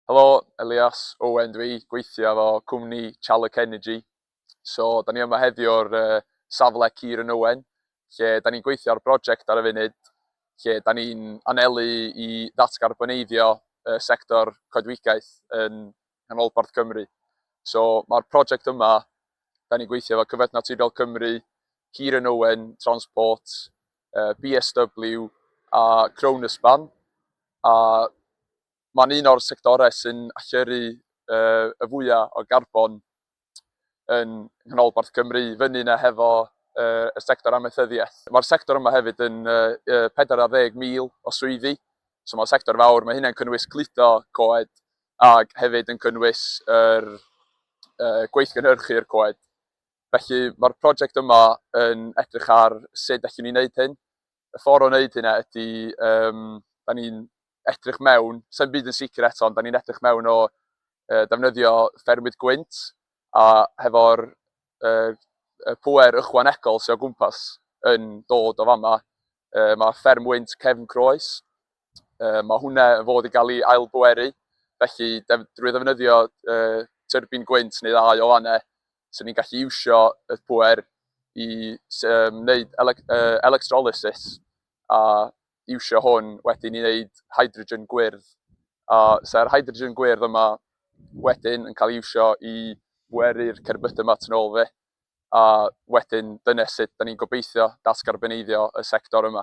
Helo, Elias Owen dw i, gweithio efo cwmni Challuk Energy. So, da ni yma heddiw o'r safle Cir yn Owen, lle da ni'n gweithio ar brosiect ar y funud, lle da ni'n anelu i ddatgarboneiddio y sector coedwigaeth yn nghanolbarth Cymru. So, mae'r prosiect yma, da ni'n gweithio efo Cyfoeth Naturiol Cymru, Cir yn Owen, Transport, BSW a Kronospan, a mae'n un o'r sectorau sy'n allyrru y fwyaf o garbon yn Nghanolbarth Cymru, fyny yna hefo y sector amaethyddiaeth. Mae'r sector yma hefyd yn 40,000 o swyddi, so mae'n sector fawr, mae hynna'n cynnwys cludo coed ac hefyd yn cynnwys yr gweithgynhyrchu'r coed. Felly, mae'r prosiect yma yn edrych ar sut allwn ni wneud hyn. Y ffordd o wneud hynna ydy, um, da ni'n edrych mewn, sy'n byd yn sicr eto, ond da ni'n edrych mewn o uh, defnyddio ffermwyd gwynt a hefo'r uh, pwer ychwanegol sy'n o gwmpas yn dod o fama. Uh, mae fferm wynt cefn croes, uh, mae hwnna yn fod i gael ei ailbweru, felly def, drwy ddefnyddio uh, tyrbin gwynt neu ddau o fanna, So ni'n gallu iwsio y pŵer i wneud electrolysis a iwsio hwn wedyn i wneud hydrogen gwyrdd. A sa'r hydrogen gwyrdd yma wedyn yn cael ei iwsio i bweru'r cerbydau yma yn ôl fe. A wedyn dyna sut da ni'n gobeithio datgarboneiddio y sector yma.